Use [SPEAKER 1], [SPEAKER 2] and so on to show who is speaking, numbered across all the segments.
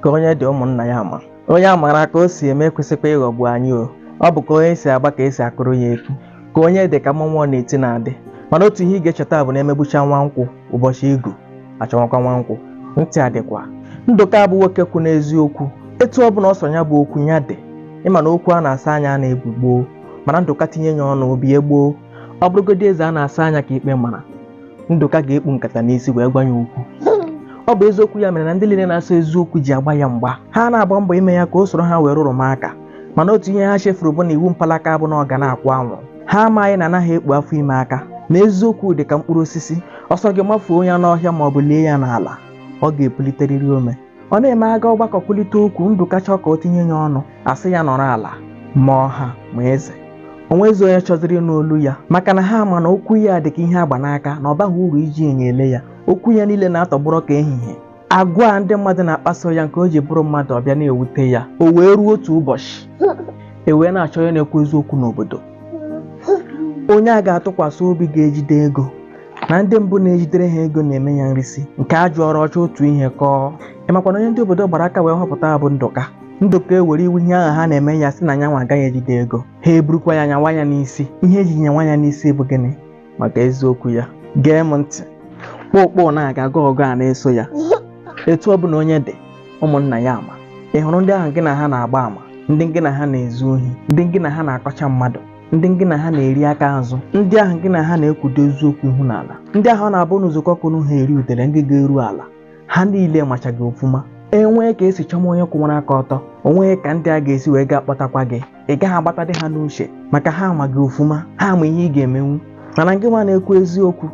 [SPEAKER 1] ka onye dị ụmụnna ya ama onye a maara ka o si eme ekwesịkwa ịghọgbu anyị o ọ bụ ka onye si agba ka esi akụrụ ya egwu ka onye dị ka mmọnwụ ọ na-eti na-adị mana otu ihe ị ga-echeta bụ na emegbucha nwa nkwụ ụbọchị igu achọwakwa nwa nkwụ ntị adịkwa ndụka bụ nwoke kwụ n'eziokwu etu ọ bụla ọ sọ ya bụ okwu ya dị ịma na okwu a na-asọ anya anaghị ebi gboo mana ndụka tinye ya ọnụ o bie gboo ọ bụrụgodị eze a na-asọ anya ka ikpe mara ndụka ga-ekpu nkata n'isi wee gwa ya okwu ọ bụ eziokwu ya mere na ndị niile na-asọ eziokwu ji agba ya mgba ha na-agba mbọ ime ya ka o soro ha wee rụrụma aka mana otu ihe ha chefuru bụ na iwu mpalaka bụ na ọ ga na-akwụ anwụ ha amaghị na anaghị ekpu afọ ime aka na eziokwu dị ka mkpụrụ osisi ọ sọ gị mafuo ya n'ọhịa ma ọ bụ lie ya n'ala ọ ga-epuliterịrị ome ọ na-eme a gaa ọgbakọ kwulite okwu ndụka chọọ ka o tinye ya ọnụ a sị ya nọrọ ala ma ọha ma eze onwezi onye chọziri ịnụ olu ya maka na ha ma na okwu ya dị ka ihe agba n'aka na ọ baghị uru iji enyo ele ya okwu ya niile na-atọgbọrọ ka ehihie agwa a ndị mmadụ na-akpaso ya nke o ji bụrụ mmadụ ọ bịa na-ewute ya o wee ruo otu ụbọchị e wee na-achọ onye na-ekwu eziokwu n'obodo onye a ga-atụkwasị obi ga-ejide ego na ndị mbụ na-ejidere ha ego na-eme ya nrisi nke a jụọrọ ọ chọọ otu ihe kọọ ịmakwa na onye ndị obodo gbara aka wee họpụta bụ ndụka ndụka ewere iwe ihe ahụ ha na-eme ya sị na ya nwa agaghị ejide ego ha eburukwa ya nyawa ya n'isi ihe eji nyawa ya n'isi bụ gịnị maka eziokwu ya gee m ntị kpokpo na-aga aga ọgụ a na-eso ya etu ọ bụla onye dị ụmụnna ya ama ị hụrụ ndị ahụ gị na ha na-agba ama ndị gị na ha na-ezu ohi ndị gị na ha na-akọcha mmadụ ndị gị na ha na-eri aka azụ ndị ahụ gị na ha na-ekpudo eziokwu ihu n'ala ndị ahụ ọ na-abụ unu zukọọ ka unu ha eri udele ngịga eruo ala ha niile macha gị ọfụma e nwee ka e si chọma onye kwụwara aka ọtọ onweghị ka ndị a ga-esi wee gaa kpọtakwa gị ị gaghị agbatadị ha n'uche maka ha ama gị ọfụma ha ama ihe ị ga-emenwu mana gị nwa na-ekwu eziokwu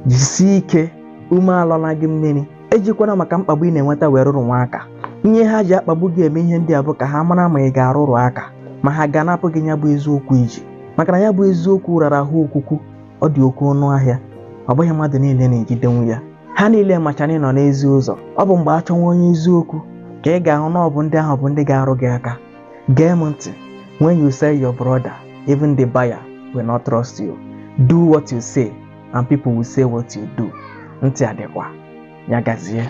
[SPEAKER 1] jisie ike ume alọla gị mmiri ejikwana maka mkpagbu ị na-enweta wee rụrụwa aka ihe ha ji akpagbu gị eme ihe ndị a bụ ka ha mara ma ị ga-arụrụ aka ma ha ga-anapụ gị ya bụ eziokwu i ji maka na ya bụ eziokwu rara ahụ okwukwu ọ dị oke ọnụ ahịa ọ bụghị mmadụ niile na-ejidenwu ya ha niile macha na ị nọ n'ezi ụzọ ọ bụ mgbe a chọwa onye eziokwu ka ị ga-ahụ na ọ bụ ndị ahụ bụ ndị ga-arụ gị aka gee m ntị when you sell your brother even the buyer will not trust you do what you say and people will say what you do ntị adịkwa ya gazie